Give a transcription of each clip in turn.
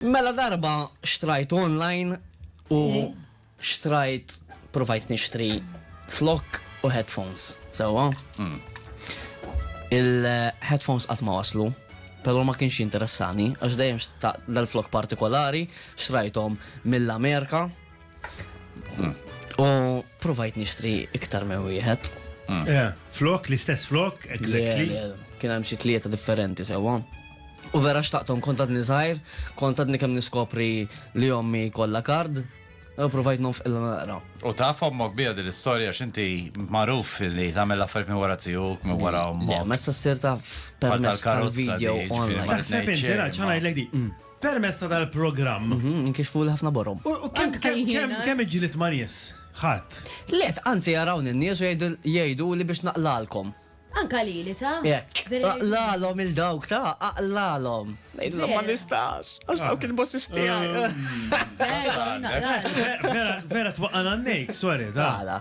Mela darba xtrajt online u xtrajt provajt nixtri flok u headphones, sewwa? Mm. Il-headphones qatt ma waslu, però ma kienx jinteressani għax dejjem dal-flok partikolari xtrajthom mill-Amerika Mm. U provajt nixtri iktar minn wieħed. Mm. Flok, l-istess flok, exactly. Kien hemm xi tlieta differenti sewwa. U vera xtaqtom kontat nizajr, kontat nikem niskopri li jommi kolla kard, provajt nonf illa naqra. U ta' fommok bija din l-istoria xinti maruf li tamel affarijiet minn wara tijuk, minn wara ommok. Ma s-sir ta' permess tal-video. Taħseb inti, ċana jlek di. Permezz ta' dal-programm. Inkixfu l-ħafna borhom. U kemm kemm kemm kemm iġġilied ma' nies? Ħadd. Le, anzi jarawni n-nies u jgħidu jgħiduli biex naqlalkom. Anka lili ta'? Hekk. Aqlalhom lil dawk ta', aqlalhom. Ngħidilhom ma nistax, għax dawk il-bosses tiegħi. Vera, vera twaqqagħna n-nejk, sorry ta'.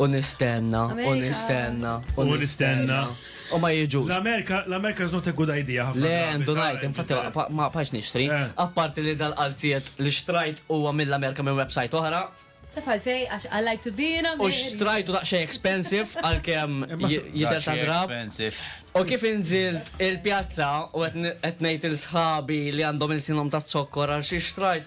U nistenna, u Amerika. nistenna, u U nistenna. U ma jiġux. L-Amerika, l-Amerika is not a good idea ħafna. Le, drabi, għandu ta' najt, infatti internet. ma- ma pax nixtri. Eh. Apparti li dal-qalziet li xtrajt huwa mill-Amerika minn website oħra. Taf għalfej, għax I like to be in U America. xtrajtu daqxej expensive għal-kem Imma s- jider ta' drab. Expensive. U kif inżilt il-pjazza u qed n- qed ngħid il-sħabi li għandhom il-sinhom ta' zokkor għal xi xtrajt,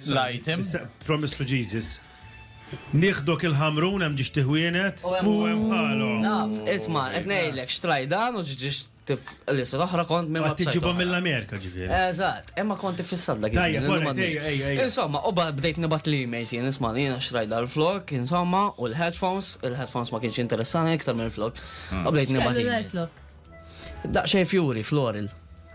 l-item. Promise to Jesus. Nieħdok il-ħamrun hemm ġiex tiħwienet u hemm bħalhom. Naf, isma' qed ngħidlek xtrajdan u ġiex tif lista toħra kont minn Qed tiġibhom mill-Amerika ġifieri. Eżatt, imma kont tifissat dak Tajjeb, iż-żmien, ora, ma tgħidx. ejja, ejja, ejja. Insomma, u ba- bdejt nibat l-emails jien isma' li jiena xtrajt dal-flok, insomma, u l-headphones, il-headphones ma kienx interessani iktar mill-flok. U bdejt nibat X'kellu emails. l-flok? Daqxejn fjuri, floral.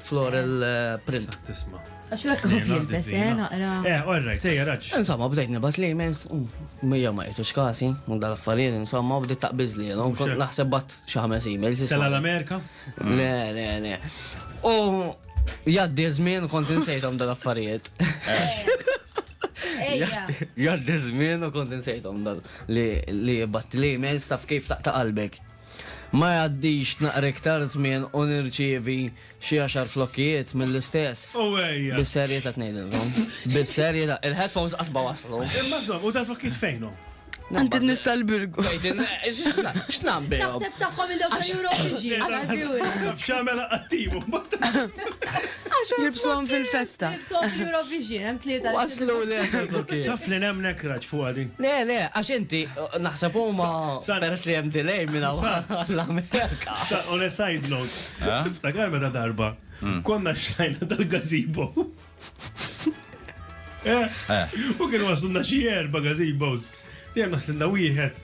Floral eh, print. Tisma. Għax u għakku jilbes, eh, naqra. Eh, all right, ejja, raġ. Insomma, bdejt nibat li mens, u mija ma jitux kasi, u dal affarijiet insomma, u bdejt taqbiz li, l kont naħseb bat xaħmes emails. Tela l-Amerika? Le, le, le. U jaddi zmin, kont insejtom dal affarijiet. Jaddi zmin, u kont insejtom dal li jibbat li emails taf kif taqta qalbek. Ma jgħaddix naqra iktar żmien u nirċievi xi għaxar flokkijiet mill-istess. Owejja! Bis-serjetà qed ngħidilkom. Bis-serjetà. Il-headphones qatt ma waslu. Imma insomma, u dal-flokkijiet fejn hu? Għand in-nies tal-Birgu. Tgħidilna x'na- x'nagħmel bihom? Naħseb tagħhom il-ewwel Eurovision. X'għamel qattiju? Jilbsuhom fil-festa. Jilbsuhom fl-Eurovision, hemm tlieta. Waslu li għandhom. Taf li hemm nekraġ fuqha din. Le, le, għax inti naħseb huma peress li hemm delay minn hawn l-Amerika. On a side note, tiftakar meta darba konna xlajna dal-gazebo. U kien waslunna xi erba' gazebos. Dejjem waslunna wieħed.